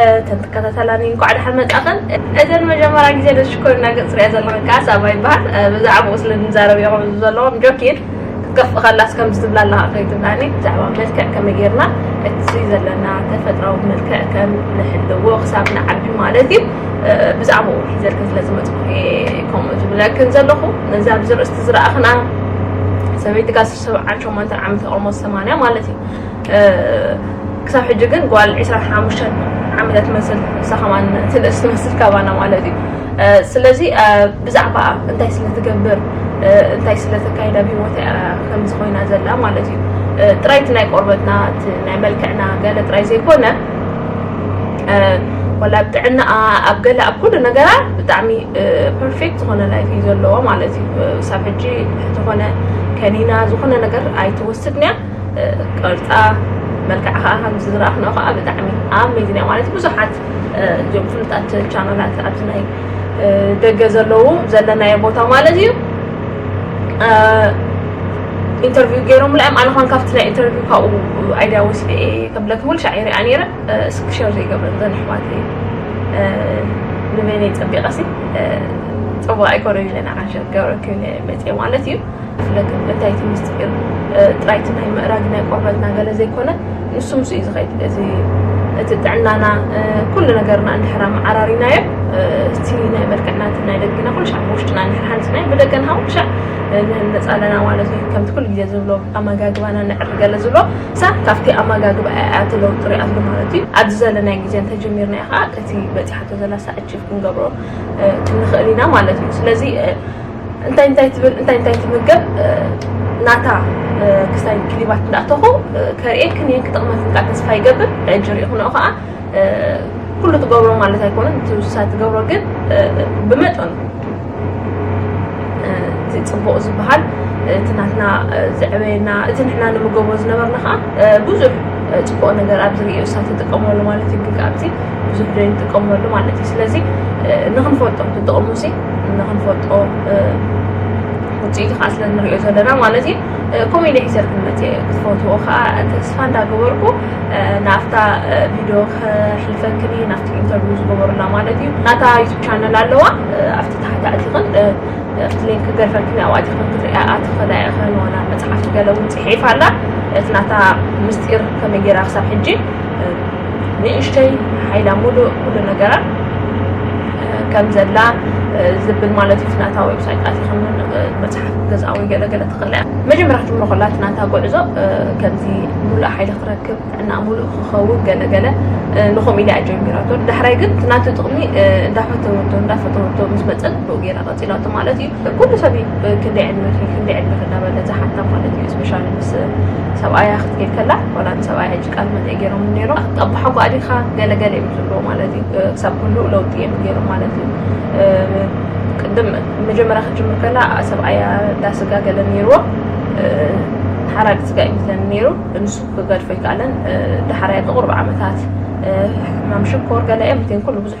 እተን ትከታተላኒ እንኳዕ ደሓን መጻኸን እተን መጀመርያ ግዜ ንሽኮሪና ገጽ ሪኣ ዘለኹ ከዓ ሳባ ይበሃል ብዛዕባኡ ስለ ንዛረብ እዮም እዚ ዘለዎም ጆኪድ ክትከፍእ ከላስ ከምዚ ትብላ ኣለኻ ከይትብላኒ ብዛዕባ መልክዕ ከመይ ጌርና እቲ ዘለና ተፈጥራዊ መልክዕ ከም ንሕልዎ ክሳብ ንዓቢ ማለት እዩ ብዛዕባኡ ሒዘልክ ስለ ዝመፅኩ ከምኡ ዝብለክን ዘለኹ ነዚ ኣብዚ ርእስቲ ዝረኣኽና ሰበይቲ ጋስር ሰብዓን ሸሞንተን ዓመት ተቐሞ ሰማንያ ማለት እዩ ክሳብ ሕጂ ግን ጓል ዕስራን ሓሙሽተን ዓመት ትመስል ንሳ ከማን ትንእስ ትመስል ካባና ማለት እዩ ስለዚ ብዛዕባ እንታይ ስለ ትገብር እንታይ ስለ ተካይዳ ብሂወት ከምዚ ኮይና ዘላ ማለት እዩ ጥራይ እቲ ናይ ቆርበትና እቲ ናይ መልክዕና ገለ ጥራይ ዘይኮነ ወላ ኣብ ጥዕናኣ ኣብ ገለ ኣብ ኩሉ ነገራ ብጣዕሚ ፐርፌክት ዝኾነ ላይፍ እዩ ዘለዎ ማለት እዩ ሳብ ሕጂ ዝኾነ ከኒና ዝኾነ ነገር ኣይትወስድን እያ ቅርጻ መልክዓ ከዓ ከምዚ ዝረኣኽንኦ ከዓ ብጣዕሚ ኣሜዚን እያ ማለት ብዙሓት እዚኦም ፍሉጣት ቻናላት ኣብዚ ናይ ደገ ዘለዉ ዘለናዮ ቦታ ማለት እዩ ኢንተርቪው ገይሮም ላዮም ኣነ ኳን ካብቲ ናይ ኢንተርቪው ካብኡ ኣይድያ ወሲደ እየ ከብለክ ሙሉ ሻዕ ይሪኣ ነይረ እስኪ ሸር ዘይገብረን ዘን ኣሕዋት ንበይነይ ፀቢቐሲ ፅቡቅ ኣይኮነን ኢለ ንዓሸር ገብረክን መፅአ ማለት እዩ ብፍለገ እንታይ እቲ ምስጢር ጥራይ እቲ ናይ ምእራግ ናይ ቆርበትና ገለ ዘይኮነ ንሱ ምስ እዩ ዝኸይድ እዚ እቲ ጥዕናና ኩሉ ነገርና እንድሕር ኣመዓራሪናዮ እቲ ናይ መልክዕና እቲ ናይ ደግና ኩሉ ሻዕ ብውሽጥና እንድሕር ሓንፅናዮ ብደገ ንሃ ኩሉ ሻዕ ንህነፅ ኣለና ማለት እዩ ከምቲ ኩሉ ግዜ ዝብሎ ኣመጋግባና ንዕሪ ገለ ዝብሎ ሳ ካብቲ ኣመጋግባ እያ እቲ ለውጢ ሪኣሉ ማለት እዩ ኣብዚ ዘለናይ ግዜ እንተጀሚርና እዩ ከዓ እቲ በፂሓቶ ዘላ ሳእችፍ ክንገብሮ ክንኽእል ኢና ማለት እዩ ስለዚ እንታይ እንታይ ትብል እንታይ እንታይ ትምገብ ናታ ክስታይ ክሊባት እንዳእተኹ ከርእየክን እየን ክጥቕመክን ከዓ ተስፋ ይገብር ሕጂ ሪኢኹንኦ ከዓ ኩሉ ትገብሮ ማለት ኣይኮነን እቲ ውሳ ትገብሮ ግን ብመጠኑ እቲ ፅቡቕ ዝበሃል እቲ ናትና ዘዕበየና እቲ ንሕና ንምገቦ ዝነበርና ከዓ ብዙሕ ፅቡቕ ነገር ኣብዚ ርእዮ ውሳ ትጥቀመሉ ማለት እዩ ግን ካብዚ ብዙሕ ዶ ንጥቀመሉ ማለት እዩ ስለዚ ንክንፈልጦም ትጥቕሙ ሲ ንክንፈልጦ ውፅኢቱ ከዓ ስለ ንሪኦ ዘለና ማለት እዩ ከምኡ ኢለ ሒዘር ክንመፅ እየ ክትፈትዎ ከዓ ተስፋ እንዳገበርኩ ናብታ ቪድዮ ክሕልፈክን እዩ ናብቲ ኢንተርቪው ዝገበሩላ ማለት እዩ ናታ ዩቱብ ቻነል ኣለዋ ኣብቲ ታሕቲ ኣቲኽን እቲ ሊንክ ገርፈክን ኣብኡ ኣቲኽን ክትሪኣ ኣትኽእላ ኢኽን ዋላ መፅሓፍቲ ገለ እውን ፅሒፋ ኣላ እቲ ናታ ምስጢር ከመይ ጌራ ክሳብ ሕጂ ንእሽተይ ሓይላ ሙሉእ ኩሉ ነገራ ከም ዘላ ዝብል ማለት እዩ ናታ ዌብሳይት ኣቲኹም መፅሓፍ ገዛ ወይ ገለገለ ትኽእላ መጀመርያ ክትምሮ ከላ እቲ ናታ ጉዕዞ ከምዚ ሙሉእ ሓይሊ ክረክብ ጥዕና ሙሉእ ክኸውን ገለገለ ንኸምኡ ኢላ እያ ጀሚራቶ ዳሕራይ ግን እቲ ናቱ ጥቕሚ እንዳፈተወቶ እንዳፈተወቶ ምስ መፀት ብኡ ገይራ ቀፂላቶ ማለት እዩ ኩሉ ሰብ ክንደይ ዕድመኪ ክንደይ ዕድመኪ እንዳበለ ዝሓታ ማለት እዩ ስፔሻሊ ምስ ሰብኣያ ክትከይድ ከላ ዋላ ንሰብኣያ ቃል መጠይ ገይሮም ነይሮም ኣቦሓጓ ዲኻ ገለ ገለ እዮም ዝብልዎ ማለት እዩ ክሳብ ኩሉ ለውጢ እዮም ገይሮም ማለት እዩ ቅድም መጀመርያ ክትጅምር ከላ ሰብኣያ ዳስጋ ገለ ነይርዎ ሓራዲ ስጋ እዩ ምስለን ነይሩ ንሱ ክገድፎ ኣይከኣለን ዳሓራያ ብቑርብ ዓመታት ሕማም ሽኮር ገለ እዮም ምትን ኩሉ ብዙሕ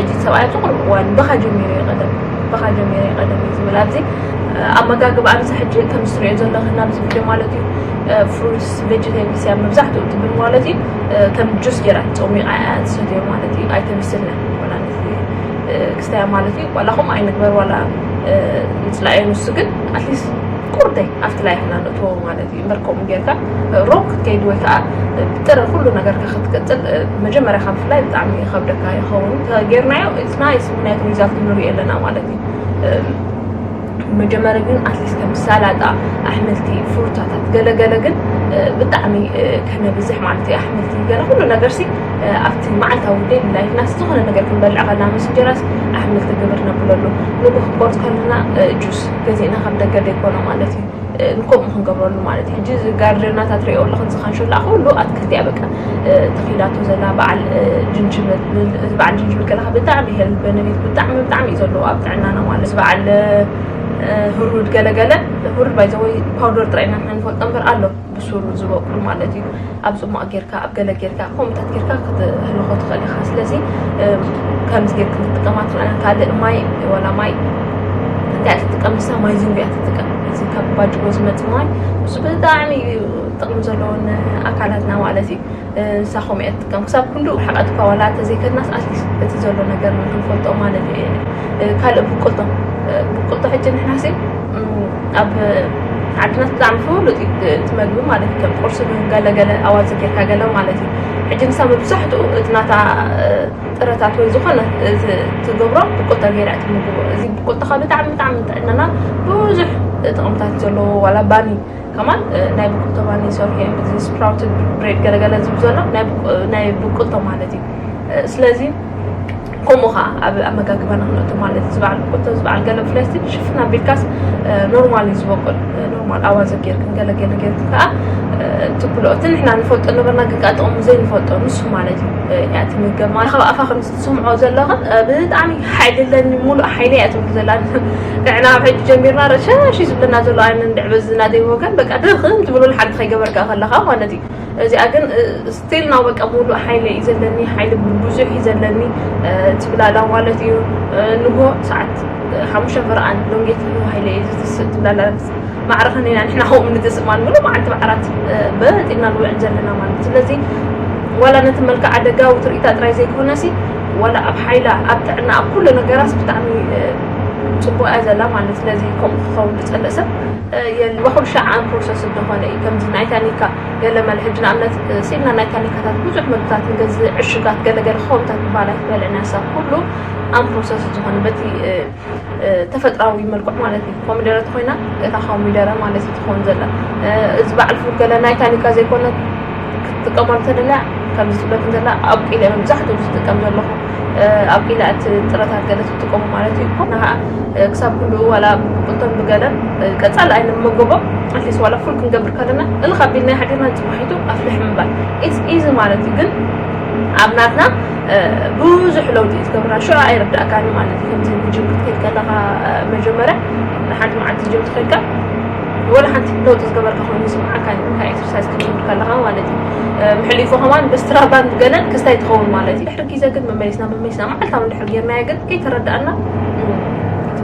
እዚ ሰብኣይ ኣብዚ ቅርብ እዋን ብኻ ጀሚረ እዩ ቀደም ብኻ ጀሚረ እዩ ቀደም እዩ ዝብል ኣብዚ ኣመጋግባ ኣንሳ ሕጂ ከምዚ ትሪኦ ዘለኺ ናብዚ ቪድዮ ማለት እዩ ፍሩትስ ቬጀቴብልስ እያ መብዛሕትኡ ትብል ማለት እዩ ከም ጁስ ጌራ ፀሚቃ እያ ዝሰትዮ ማለት እዩ ኣይተምስልና ክስታያ ማለት እዩ ዋላ ከምኡ ኣይንግበር ዋላ ንፅላእዮ ንሱ ግን ኣትሊስት ቁርተይ ኣብቲ ላይ ሕና ንእትዎ ማለት እዩ እምበር ከምኡ ጌርካ ሮም ክትከይድ ወይ ከዓ ብጥረ ኩሉ ነገርካ ክትቅፅል መጀመርያ ካብ ፍላይ ብጣዕሚ ይኸብደካ ይኸውን ተጌርናዮ ስናይስ ምክንያቱ ሪዛልት ንሪኦ ኣለና ማለት እዩ መጀመሪ ግን ኣትሊስት ከም ሰላጣ ኣሕምልቲ ፍሩታታት ገለገለ ግን ብጣዕሚ ከነብዝሕ ማለት እዩ ኣሕምልቲ ገለ ኩሉ ነገር ሲ ኣብቲ መዓልታዊ ደይ ላይፍና ዝኾነ ነገር ክንበልዕ ከለና ምስ እንጀራስ ኣሕምልቲ ግብር ነብለሉ ንጉ ክቆርፅ ከለና ጁስ ገዜእና ካብ ደገ ዘይኮነ ማለት እዩ ንከምኡ ክንገብረሉ ማለት እዩ ሕጂ እዚ ጋርደናታት ሪኦ ኣለኹ እዚ ካንሸላ ኩሉ ኣትክልቲ እያ በቃ ተኺላቶ ዘላ በዓል ጅንጅብል እዚ በዓል ጅንጅብል ከለካ ብጣዕሚ ሄል በነፊት ብጣዕሚ ብጣዕሚ እዩ ዘለዎ ኣብ ጥዕናና ማለት እዚ በዓል ህሩድ ገለገለ ህሩድ ባይዘወይ ፓውደር ጥራይ ኢና ንፈልጦ እምበር ኣሎ ብሱሩ ዝበቁል ማለት እዩ ኣብ ፅሟቅ ጌርካ ኣብ ገለ ጌርካ ከምኡታት ጌርካ ክትህልኮ ትኽእል ኢኻ ስለዚ ከምዚ ጌርክ ክትጥቀማ ትኽእል ካልእ ማይ ወላ ማይ እንታይ ትጥቀም ንሳ ማይ ዝንቢያ ትጥቀም እዚ ካብ ባጅቦ ዝመፅ ማይ እሱ ብጣዕሚ እዩ ጥቕሚ ዘለዎን ኣካላትና ማለት እዩ ንሳ ከምኡ እያ ትጥቀም ክሳብ ክንድኡ ሕቐትካ ዋላ እንተዘይከድናስ ኣትሊስት እቲ ዘሎ ነገር ክንፈልጦ ማለት እየ ካልእ ብቁልቶ ብቁልቶ ሕጂ ንሕናሲ ኣብ ዓድና ብጣዕሚ ፍሉጥ እዩ እቲ መግቢ ማለት እዩ ከም ቁርሲ ገለገለ ኣዋፅ ጌርካ ገለ ማለት እዩ ሕጂ ንሳ መብዛሕትኡ እቲ ናታ ጥረታት ወይ ዝኾነ ትገብሮ ብቁልቶ ገይራ እቲ ምግቦ እዚ ብቁልቶኻ ብጣዕሚ ብጣዕሚ ጥዕናና ብዙሕ ጥቕምታት ዘለዎ ዋላ ባኒ ከማን ናይ ብቁል ተማኒ ሰርሑ እዮም እዚ ስፕራውትድ ብሬድ ገለገለ ዝብ ዘሎ ናይ ብቁል ተማለት እዩ ስለዚ ከምኡ ከዓ ኣብ ኣመጋግባና ክንእቱ ማለት እዩ ዝበዓል ብቁል ቶ ዝበዓል ገለ ብፍላይ ስቲ ሽፍና ቢልካስ ኖርማል እዩ ዝበቁል ኖርማል ኣዋዘ ጌርክን ገለገለ ጌርክን ከዓ ትብሎ እቲ ንሕና ንፈልጦ ነበርና ግን ከዓ ጥቕሙ ዘይንፈልጦ ንሱ ማለት እዩ እያ ትምገብ ማለት ካብ ኣፋ ትስምዖ ዘለኻ ብጣዕሚ ሓይሊ ኣለኒ ሙሉእ ሓይለይ እያ ትብል ዘላ ንሕና ኣብ ሕጂ ጀሚርና ረሻሽ ዝብለና ዘሎ ኣነ እንድዕ በዚ ናደይ ወገን በቃ ድኽም ትብሉል ሓንቲ ከይገበርካ ከለኻ ማለት እዩ እዚኣ ግን ስቲል ናብ በቃ ሙሉእ ሓይለ እዩ ዘለኒ ሓይሊ ብዙሕ እዩ ዘለኒ ትብላላ ማለት እዩ ንጎ ሰዓት ሓሙሽተ ፍርኣን ሎንጌት ሃይለ እዩ ዝትስእ ትብላላ ማዕረ ከኒና ንሕና ከምኡ ንገዝእ ማለት ሙሉእ መዓልቲ ብዓራት በጥ ኢልና ንውዕል ዘለና ማለት እዩ ስለዚ ዋላ ነቲ መልክዓ ደጋዊ ትርኢታ ጥራይ ዘይኮነሲ ዋላ ኣብ ሓይላ ኣብ ጥዕና ኣብ ኩሉ ነገራስ ብጣዕሚ ፅቡቅ እያ ዘላ ማለት ስለዚ ከምኡ ክኸውን ዝፀልእ ሰብ የልባኹም ሸዓን ፕሮሰስ እንደኾነ እዩ ከምዚ ናይ ታኒካ ገለመለ ሕጂ ንኣብነት ስኢልና ናይ ታኒካታት ብዙሕ ምግብታት ንገዝእ ዕሽጋት ገለገለ ክኸውንታት ክበሃል ኣይክበልዕን ሰብ ኩሉ ኣን ፕሮሰስ ዝኾነ በቲ ተፈጥራዊ መልክዑ ማለት እዩ ኮሚደረ ተኮይና እታ ኮሚደረ ማለት እዩ ትኸውን ዘላ እዚ በዓል ፉል ገለ ናይ ታኒካ ዘይኮነ ክትጥቀመሉ ተደልያ ከምዚ ትብለት ዘላ ኣብቂለ መብዛሕትኡ ዝጥቀም ዘለኹ ኣብቂለ እቲ ጥረታት ገለ ትጥቀሙ ማለት እዩ ኮና ከዓ ክሳብ ክንዱ ዋላ ብቁልቶን ብገለን ቀፃል ኣይነ መጎቦ ኣትሊስ ዋላ ፉል ክንገብር ከለና እልካ ቢልና ሓዲርና ፅባሒቱ ኣፍልሕ ምባል ኢዚ ማለት እዩ ግን ኣብ ናትና ብዙሕ ለውጢ እዩ ትገብራ ሽዑ ኣይርዳእካን እዩ ማለት እዩ ከምዚ ንጅም ክትከይድ ከለካ መጀመርያ ንሓንቲ መዓልቲ ጅም ትከይድካ ወላ ሓንቲ ለውጢ ዝገበርካ ኮይኑ ይስምዓካ ንካ ኤክሰርሳይዝ ክትከይድ ከለካ ማለት እዩ ምሕሊፉ ከማን ብስትራቫን ገለን ክስታይ ትኸውን ማለት እዩ ድሕሪ ግዜ ግን መመሊስና መመሊስና መዓልታዊ እንድሕር ጌርናዮ ግን ከይተረዳእና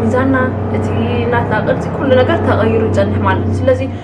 ሚዛና እቲ ናትና ቅርፂ ኩሉ ነገር ተቐይሩ ይፀንሕ ማለት እዩ ስለዚ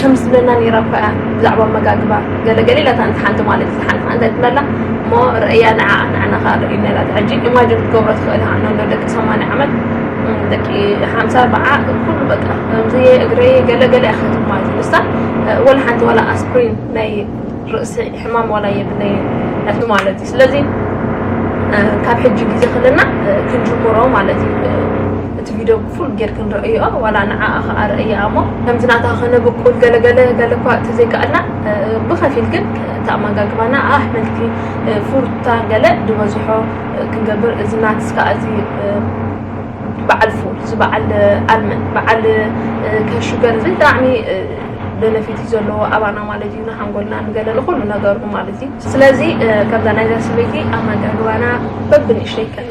ከምዚ ዝብለና ነይራ እኳ እያ ብዛዕባ ኣመጋግባ ገለ ገለ ኢላታ እንተ ሓንቲ ማለት ዝሓልፋ እንታይ ትብለላ እሞ ርእያ ንዓኣ ንዓና ከዓ ርእዩና ኢላታ ሕጂ ኢማጅን ክትገብሮ ትኽእል ኢኻ ነሎ ደቂ ሰማንያ ዓመት ደቂ ሓምሳ ኣርባዓ ኩሉ በቃ ከምዚ እግረይ ገለ ገለ እያ ክትብል ማለት እዩ ንሳ ወላ ሓንቲ ዋላ ኣስፕሪን ናይ ርእሲ ሕማም ዋላ የብለይ ሕቲ ማለት እዩ ስለዚ ካብ ሕጂ ግዜ ክለና ክንጅምሮ ማለት እዩ እቲ ቪድዮ ፉል ጌርኪ ንረእይኦ ዋላ ንዓኣ ከኣ ረእይኣ እሞ ከምዚ ናታ ከነብቁል ገለ ገለ ገለ እኳ ተዘይከኣልና ብኸፊል ግን ተኣመጋግባና ኣሕምልቲ ፉርታ ገለ ዝበዝሖ ክንገብር እዚ ናትስ ከኣ እዚ በዓል ፉል እዚ በዓል ኣልመን በዓል ከሹገር እዚ ብጣዕሚ በነፊት እዩ ዘለዎ ኣባና ማለት እዩ ንሓንጎልና ንገለ ንኩሉ ነገሩ ማለት እዩ ስለዚ ከምዛ ናይዛ ሰበይቲ ኣመጋግባና በብንእሽተይ